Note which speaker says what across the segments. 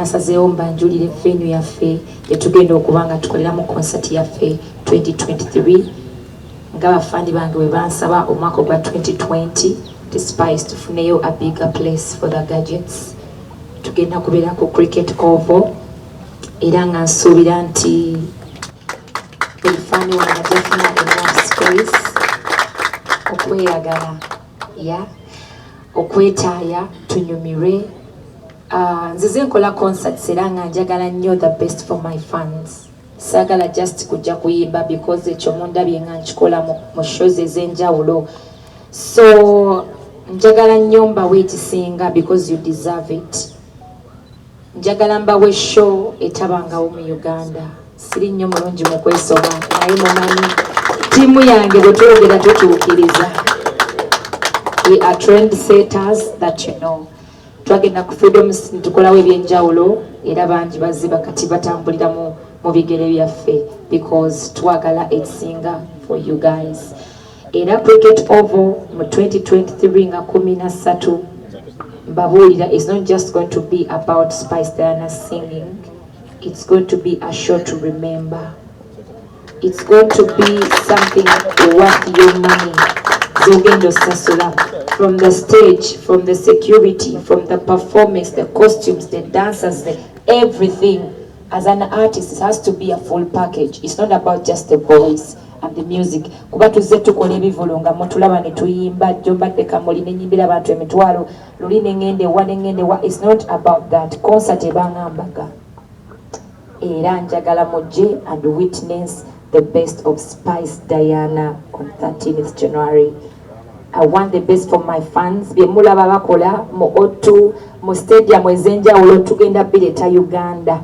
Speaker 1: nasazeewo mbanjulire venue yaffe gyetugenda okuba nga tukoleramu concert yaffe 2023 Nga ba fund bange bwe bansaba omwaka ogwa 2020 nti Spice tufuneyo a bigger place for the gadgets tugenda kubeera ku cricket oval era nga nsuubira nti buli fani wange ajafuna enough space okweyagala ya okwetaaya tunyumirwe ah, nzize nkola concerts era nga njagala nnyo the best for my fans Saagala just kujja kuyimba because ekyo mundabye nga nkikola mu shows ez'enjawulo so njagala nnyo mbawe ekisinga because you deserve it njagala mbawe show etabangawo mu uganda siri nnyo mulungi mu kwesoma naye mumanyi ttiimu yange bwe twogera tutuukiriza we are trend setters that you know twagenda ku freedom ne tukolawo ebyenjawulo era bangi baziba kati batambulira mu mu bigere byaffe because twagala ekisinga for you guys era cricket ovo mu 2023 nga kumi na ssatu mbabuulira is not just going to be about spice diana singing it's going to be a show to remember It's got to be something worth your money. Zogendo Sasula. From the stage, from the security, from the performance, the costumes, the dancers, the everything. As an artist, it has to be a full package. It's not about just the voice and the music. Kuba tuzze tukola ebivulu nga mutulaba ne tuyimba jjo mbadde kamuli ne nyimbira abantu emitwalo luli ne ngende wa ne ngende wa. It's not about that. Concert ebangamba ga. Era njagala mujje and witness the best of Spice Diana on 13th January. I want the best for my fans. Bye mulaba bakola mu O2 mu stadium ezenjawulo tugenda bireta Uganda.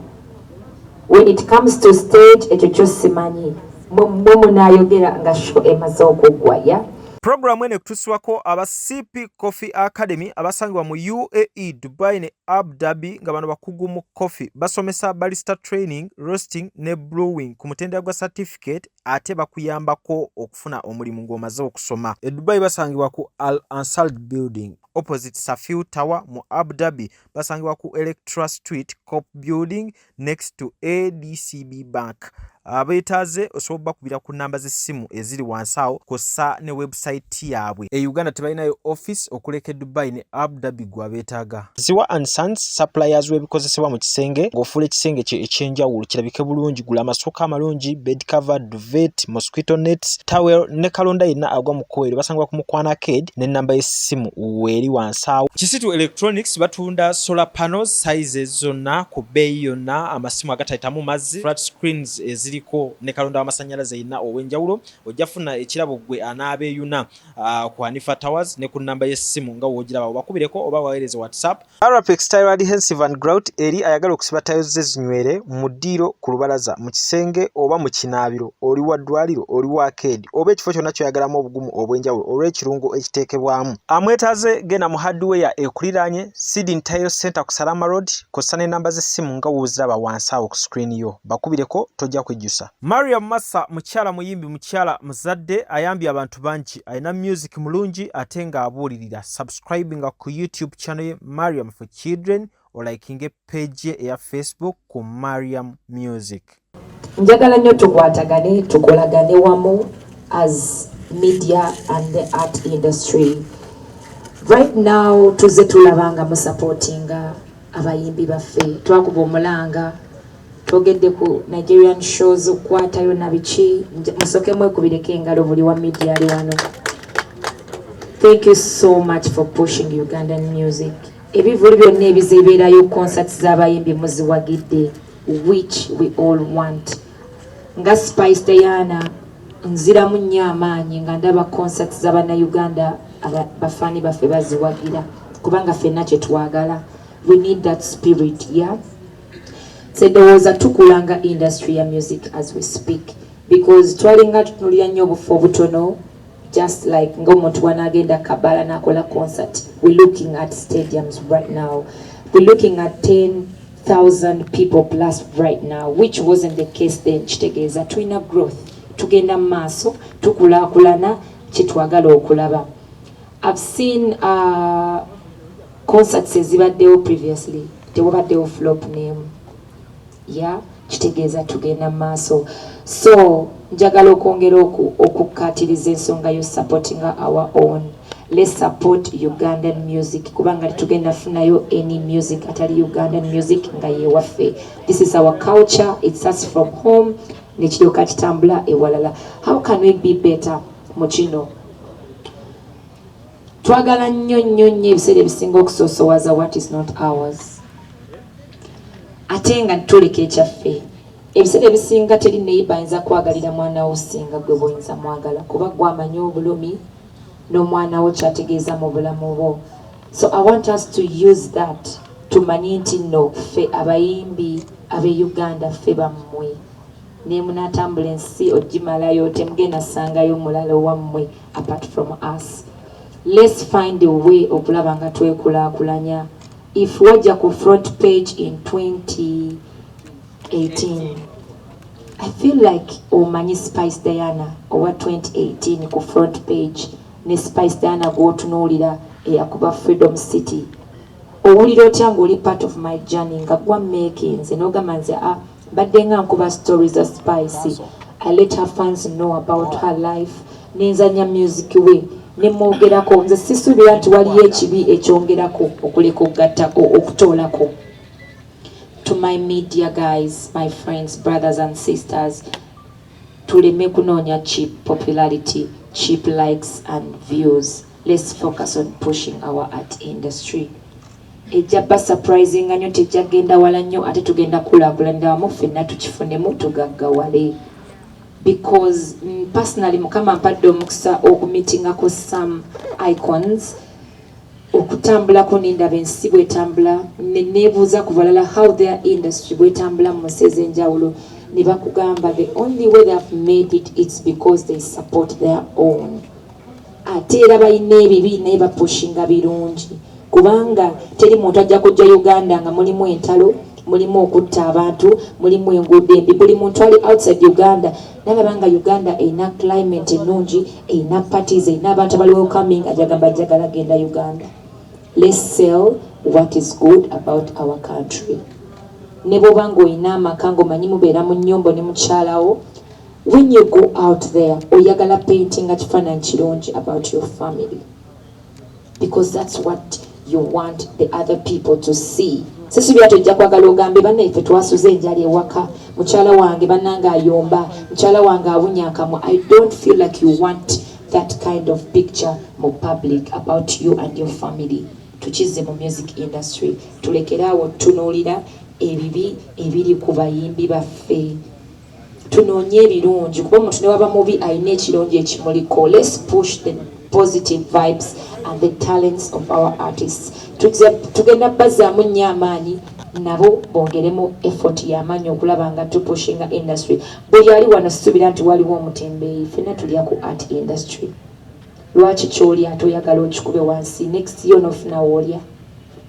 Speaker 1: When it comes to stage ekyo kyo simanyi. Mwe munayogera nga show emaze okuggwa ya Programu eno
Speaker 2: ekutusibwako aba CP Coffee Academy abasangibwa mu UAE, Dubai ne Abu Dhabi nga bano bakugu mu coffee. Basomesa barista training, roasting ne brewing ku mutendera gwa certificate ate bakuyambako okufuna omulimu ng'omaze okusoma. E Dubai basangibwa ku Al Ansal Building opposite Safiu Tower mu Abu Dhabi. Basangibwa ku Electra Street, Cop Building next to adcb bank abeetaaze osobola bakubira ku namba z'essimu eziri wansi awo kw'ossa ne webusayiti yaabwe e uganda tebalinayo office okuleka e dubai ne abu dhabi gwe abeetaaga ziwa and sons suppliers w'ebikozesebwa mu kisenge ng'ofuula ekisenge kye ekyenjawulo kirabike bulungi gula amasuuka amalungi bed cover duvet mosquito nets towel ne kalonda yenna agwa mu kkubo eryo basangibwa ku mukwana ked n'ennamba y'essimu weeri wansi awo kisitu electronics batunda solar panels sizes zonna ku bbeeyi yonna, amasimu agatayitamu mazzi, flat screens eziriko ne kalonda w'amasannyalaze yenna ow'enjawulo. Ojja funa ekirabo ggwe anaabeeyuna ah, ku Hanifa Towers ne ku nnamba y'essimu nga w'ogiraba obakubireko oba baweereze WhatsApp. Arapex Tile Adhesive and Grout eri ayagala okusiba tiles ze zinywere mu ddiiro, ku lubalaza, mu kisenge oba mu kinaabiro, oli wa ddwaliro, oli wa akeedi, oba ekifo kyonna kyoyagalamu obugumu obw'enjawulo olw'ekirungo ekiteekebwamu amwetaze genda mu hardware ekuliraanye seeding tile center ku salama road kossa n'ennamba z'essimu nga wuziraba wansi awo ku screen yo bakubireko tojja kwejjusa maria massa mukyala muyimbi mukyala muzadde ayambye abantu bangi alina music mulungi ate ng'abuulirira subscribe nga ku youtube channel ye mariam for children olayikinge page ye eya facebook ku mariam music Njagala
Speaker 1: nyo tukwatagane tukolagane wamu as media and the art industry right now tuze tulaba nga musapotinga abayimbi baffe twakuba omulanga twogedde ku nigerian shows okukwatayo nabiki musoke mwekubireko engalo buli wa media ali wano thank you so much for pushing ugandan music ebivulu byonna ebizebeerayo concert z'abayimbi muziwagidde which we all want nga spice diana nziramu nnyo amaanyi nga ndaba concert za bannayuganda bafaani baffe baziwagira kubanga fenna kyetwagala we need that spirit ya yeah? sedowooza tukulanga industry ya music as we speak because twalinga tutunulira nnyo obufu obutono just like nga omuntu wanagenda kabala nakola concert we looking at stadiums right now we looking at 10 thousand people plus right now which wasn't the case then kitegeeza tulina growth tugenda mu maaso tukulaakulana kyetwagala okulaba i've seen uh, concerts ezibaddewo previously tewabaddewo flop name ya kitegeeza tugenda mu maaso so njagala okwongera okukkaatiriza ensonga yo supportinga our own Let's support Ugandan music kubanga tugenda funayo any music atali Ugandan music nga yewaffe. This is our culture, it starts from home nekiryoka kitambula ewalala. How can we be better mu kino? Twagala nnyo nnyo nnyo ebiseera ebisinga okusoosowaza what is not ours. Ate nga tuleka ekyaffe. Ebiseera ebisinga teri neyiba ayinza kwagalira mwana wo singa gwe bwoyinza mwagala kuba gwamanyi obulumi nomwana wo kyategeeza mubulamu bwo so I want us to use that tumanye nti no ffe abayimbi abe Uganda ffe bammwe nemunatambula ensi ojimalayo temugenda sangayo mulala owammwe apart from us let's find a way okulaba nga twekulakulanya if wajja ku front page in 20 18 I feel like omanyi Spice Diana owa 2018 ku front page ne Spice Diana gwotunuulira eyakuba Freedom City owulira otya ng'oli part of my journey nga gwa makinze n'ogamba nze a ah, mbadde nga nkuba story za Spice I let her fans know about her life nenzanya music we nemwogerako nze sisuubira nti waliyo ekibi ekyongerako okuleka okugattako okutoolako To my media guys, my friends, brothers and sisters, tuleme kunoonya cheap popularity, cheap likes and views. Let's focus on pushing our art industry. ejja ba surprising nyo tejja genda wala nyo ate tugenda kulakulanira wamu ffenna tukifunemu tugaggawale because mm, personally mukama mpadde omukisa okumitingako some icons okutambulako nendaba ensi bwetambula nenebuuza ku balala how their industry bwetambula mu nsi ezenjawulo nebakugamba the only way they have made it it's because they support their own ate era balina ebibi naye bapushinga birungi kubanga teri muntu ajja kujja uganda nga mulimu entalo mulimu okutta abantu mulimu enguudo embi buli muntu ali outside uganda nalaba nga uganda erina climate ennungi erina parties erina abantu abali welcoming ajagamba jagala genda uganda let's sell what is good about our country ne bwoba nga olina amaka ngaomanyi mubeera mu nyumba ne mukyalawo when you go out there oyagala paintinga kifaananyi kirungi about your family because that's what you want the other people to see sisubira tojja kwagala ogambe banaye fe twasuze enjala ewaka mukyala wange banange ayomba mukyala wange awunya akamwa i don't feel like you want that kind of picture mu public about you and your family tukizze mu music industry tulekeraawo tunuulira ebibi ebiri ku bayimbi baffe Tunoonye ebirungi kuba omuntu newaba mubi alina ekirungi ekimuliko. Let's push the positive vibes and the talents of our artists. Tugenda bazaamu nnyo amaanyi nabo bongeremu effort yamanyi okulaba nga tupushinga industry. Buli ali wano sisubira nti waliwo omutembeeyi fena tulya ku art industry. Lwaki kyolya ate oyagala okikube wansi next year onofuna wolya.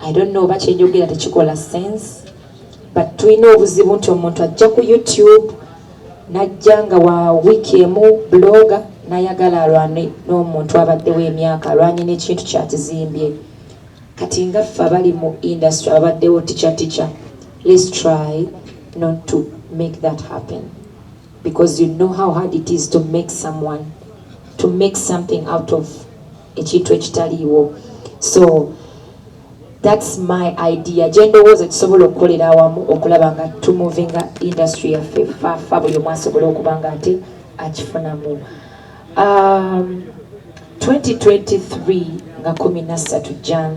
Speaker 1: I don't know oba kyenjogera tekikola sense but tulina obuzibu nti omuntu ajja ku youtube najja nga wa wiiki emu bloga nayagala alwane n'omuntu abaddewo emyaka alwanye n'ekintu kyakizimbye kati nga ffe abali mu industry abaddewo ticha ticha let's try not to make that happen because you know how hard it is to make someone to make something out of ekintu ekitaliiwo so thats my idea gyendowooza tusobola okukolera awamu okulaba nga tumovinga industry yaffe fafa buli omu asobola okuba nga ate akifunamu um, 2023 nga 13 jan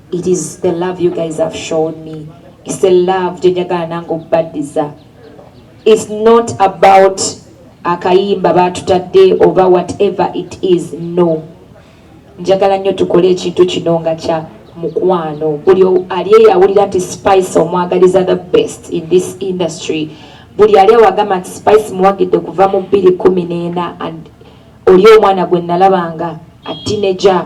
Speaker 1: It is the love you guys have shown me. It's the love gyenjagala nange okubaddiza. It's not about akayimba baatutadde oba whatever it is no. Njagala nnyo tukole ekintu kino nga kya mukwano. Buli ali eyawulira nti Spice omwagaliza the best in this industry. Buli ali awagamba nti Spice muwagidde kuva mu bbiri kumi n'ena and oli omwana gwe nalabanga a teenager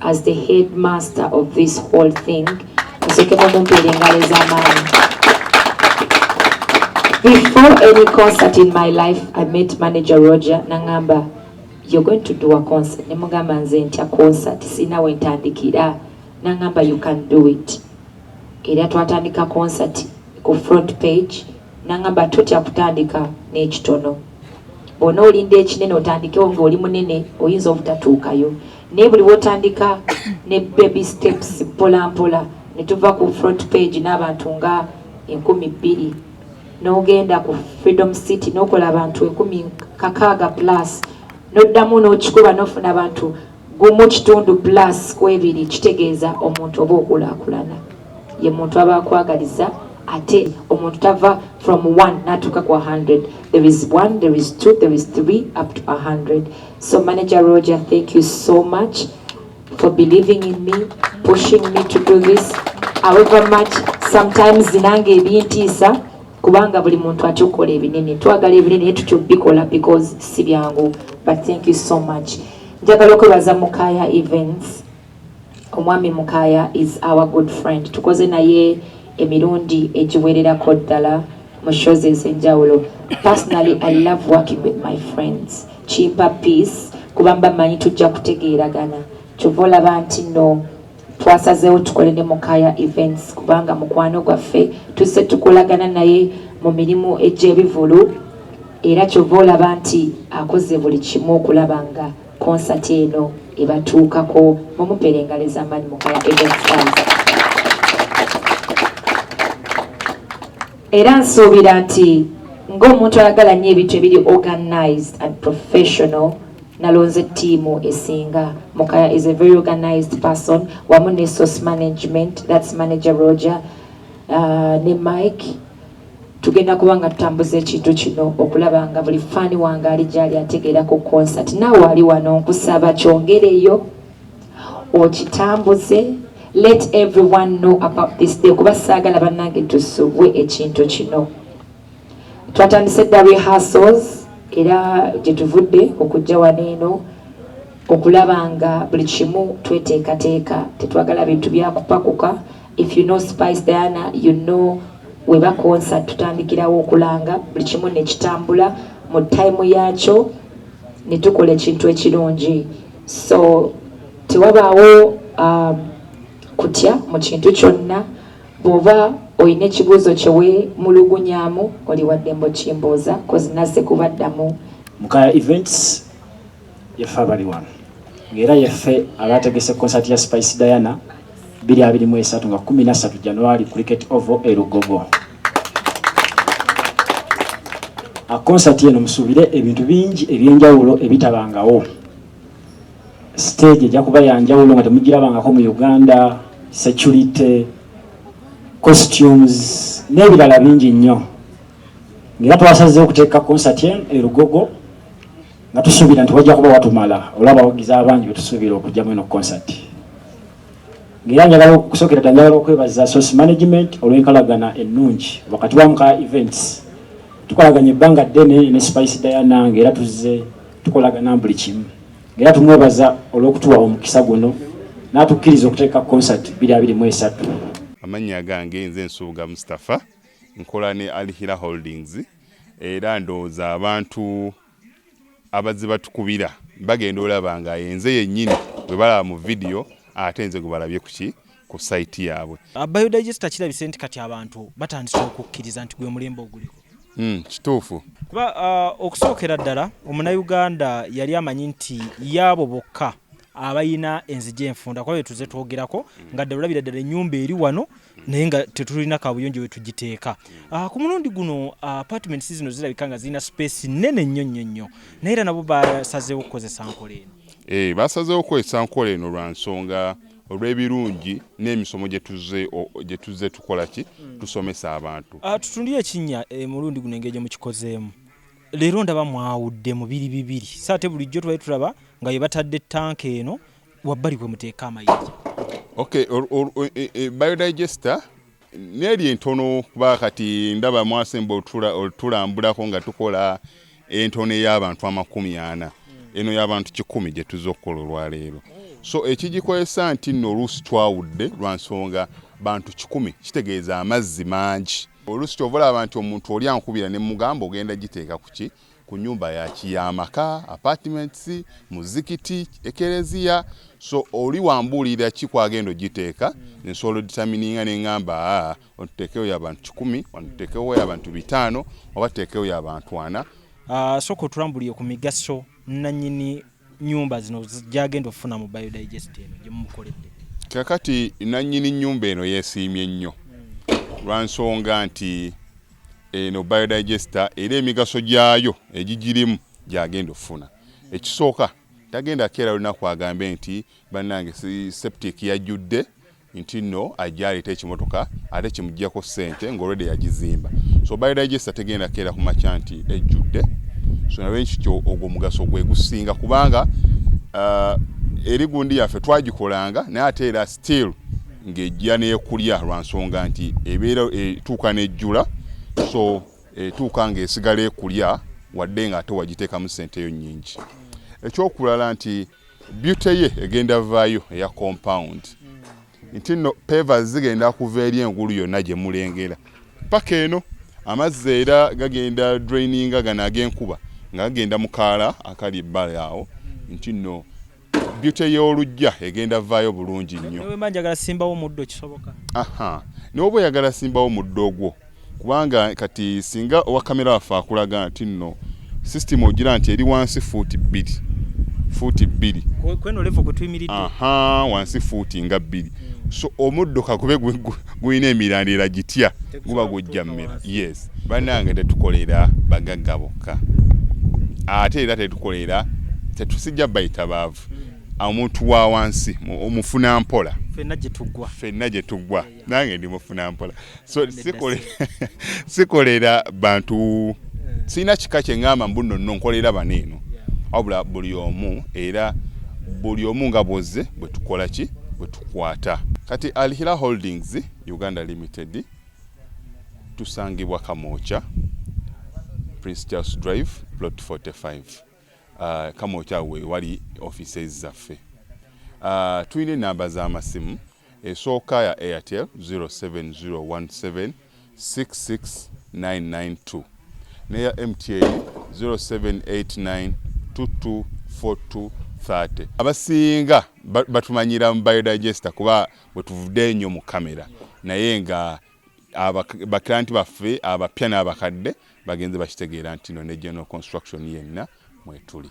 Speaker 1: as the headmaster of this whole thing nsokemu mumpeera engalo ez'amaanyi before any concert in my life i met manager roger nangamba you're going to do a concert ne mugamba nze ntya concert sirina we ntandikira nangamba you can do it era twatandika concert ku front page nangamba totya kutandika n'ekitono bwona olinda ekinene otandikewo ngaoli munene oyinza obutatuukayo naye buli wotandika ne baby steps mpola mpola ne tuva ku front page n'abantu nga enkumi bbiri n'ogenda ku freedom city n'okola abantu ekumi kakaaga plus n'oddamu n'okikuba n'ofuna abantu gumu kitundu plus ku ebiri kitegeeza omuntu oba okulaakulana ye muntu aba akwagaliza ate omuntu tava from 1 natuuka ku 100 there is 1 there is 2 there is 3 up to 100 so manager roger thank you so much for believing in me pushing me to do this however much sometimes nange ebintiisa kubanga buli muntu akyukola ebinene twagala ebinene naye tukyubikola because si byangu but thank you so much njagala okwebaza mukaya events Omwami Mukaya is our good friend tukoze naye emirundi egiwererako ddala mu shows ezenjawulo personally I love working with my friends kimpa peace kuba mba manyi tujja kutegeeragana kyova olaba nti no twasazeewo tukole ne Mukaya events kubanga mukwano gwaffe tuse tukolagana naye mu mirimu egy'ebivulu era kyova olaba nti akoze buli kimu okulaba nga konsati eno ebatuukako mumupera engalo ezamaanyi mukaya evenstars era nsuubira nti ng'omuntu ayagala nnyo ebintu ebiri organized and professional nalonze tiimu esinga mukaya is a very organized person wamu ne source management that's manager roger uh, ne mike Tugenda kuba nga tutambuza ekintu kino okulaba nga buli faani wange ali gyali ategeera ku konsati. Naawe ali wano nkusaba kyongereyo okitambuze let everyone know about this day kuba saagala bannange tusubwe ekintu kino. Twatandise dda rehearsals era gye tuvudde okujja wano eno okulaba nga buli kimu tweteekateeka tetwagala bintu byakupakuka If you know Spice Diana, you know weba concert tutandikirawo okulanga buli kimu nekitambula mu time yakyo netukola ekintu ekirungi so tewabaawo um, kutya mu kintu kyonna bwoba olina ekibuuzo kyewemulugunyamu oli waddembo kimbuuza kozinase kubaddamu mukaya events
Speaker 3: Yaffe abali wano ng'era yaffe abaategese konsati ya Spice Diana 2023 nga 13 January Cricket Oval e Lugogo. Akonsati eno musuubire ebintu bingi eby'enjawulo ebitabangawo. Siteegi ejja kuba ya njawulo nga temugirabangako mu Uganda, security, costumes n'ebirala bingi nnyo. Ng'era twasazeewo okuteeka konsati eno e Lugogo. nga tusuubira nti wajja kuba watumala olaba abawagizi abangi betusuubira okujjamu eno concert ngaera njagala okusookera dda njagala okwebaza source management olw'enkalagana ennungi wakati wa muka events tukolaganya ebbanga ddene ne spice diana ngaera tuzze tukolagana buli kimu ngaera tumwebaza olw'okutuwa omukisa guno n'atukkiriza okuteeka concert biri abiri mu esatu amannya
Speaker 4: gange nze nsuubuga mustapha nkola ne alhira holdings era ndowooza abantu abazze batukubira bagenda olaba nga enze yennyini bwe balaba mu vidiyo ate nze gwe balabye kuki ku sayiti yaabwe uh, biodigesta kirabise
Speaker 2: nti kati abantu batandise okukkiriza nti gwe mulembe oguliko hmm, kituufu
Speaker 4: kuba uh,
Speaker 2: okusookera ddala omunayuganda yali amanyi nti yaabo bokka abayina enzija enfunda kuba betuze twogerako mm. nga ddala olabira ddala ennyumba eri wano mm. naye nga tetulina kabuyonjo wetugiteeka mm. ah, ku mulundi guno ah, apartments zino zirabika nga zirina space nene nnyo nnyo nnyo naye era nabo basazeewo okukozesa nkola eno eh, basazeewo okukozesa
Speaker 4: nkola eno lwa nsonga olw'ebirungi n'emisomo gye tuzze tukola ki tusomesa abantu ah, tutundire ekinnya
Speaker 2: eh, mulundi guno engeri gye mukikozeemu leero ndaba mwawudde mu biri bibiri so ate bulijjo tubali tulaba nga ye batadde tanka eno wabbali kwe muteeka amayinja ok e,
Speaker 4: e, biodigester neeri entono kuba kati ndaba mwasemba otulambulako nga tukola entono ey'abantu amakumi ana eno y'abantu kikumi gye tuza okukola olwaleero so ekigikozesa nti nno oluusi twawudde lwa nsonga bantu kikumi kitegeeza amazzi mangi oluusi kyova olaba nti omuntu oli ankubira ne mugamba ogenda giteeka kuki ku nyumba yaki yamaka apartments muzikiti ekereziya so oli wambuulira ki kwagenda ogiteeka nsobola oditamininga nengamba ah, otuteekewo yabantu kikumi otuteekewo yabantu bitaano oba tuteekewo yabantu ana ah, soka otulambulie ku
Speaker 2: migaso nanyini nnyumba zino gy'agenda okufuna mu biodigest eno gye mumukoledde? Kakati
Speaker 4: nannyini nnyumba eno yeesiimye nnyo lwa nsonga nti eno biodigesta era emigaso gyayo egigirimu gy'agenda okufuna. Ekisooka tagenda keera lunaku agambe nti bannange septic yajjudde nti nno ajja aleeta ekimotoka ate kimuggyako ssente ng'olwedde yagizimba so biodigesta tegenda keera ku makya nti ejjudde so nabe nkikyo ogwo omugaso gwe gusinga kubanga uh, eri gundi yaffe twagikolanga naye ate era still ng'ejja neekulya lwa nsonga nti ebeera etuuka n'ejjula so etuuka ng'esigala ekulya wadde ng'ate wagiteekamu ssente yo nnyingi ekyokulala nti Beauty ye egenda vayo eya compound nti no peva zigenda kuva eri engulu yonna gye mulengera paka eno. Amazzi era gagenda draininga gano ag'enkuba nga gagenda mu kaala akali ebbali awo nti no beauty y'olujja egenda vayo bulungi nnyo.
Speaker 2: Aha, n'oba
Speaker 4: oyagala simbawo muddo ogwo. kubanga kati singa owa kamera waffe akulaga nti nno sisitimu ogira nti eri wansi fuuti bbiri fuuti bbiri
Speaker 2: wansi
Speaker 4: fuuti nga bbiri hmm. so omuddo kakube gulina emirandira gitya guba gujja mmera yes banange tetukolera bagagga bokka ate era tetukolera tetusijja bayita baavu hmm. omuntu wa wansi omufuna mpola fenna gye tuggwa nange ndi mufuna mpola so sikolera bantu sirina kika kyeŋamba mbu nonno nkolera bano eno wabula buli omu era buli omu nga bwozze bwe tukola ki bwe tukwata kati alhira holdings uganda limited tusangibwa kamooca prince charles drive plot 45 uh, kamokya we wali offices zaffe uh, tulina enamba z'amasimu esooka ya airtel 0701766992 neya mta 0789224230 abasinga batumanyira mu biodigesta kuba bwetuvudde enyo mu kamera naye nga baklanti baffe abapya n'abakadde bagenze bakitegeera nti no ne general construction yenna mwetuli.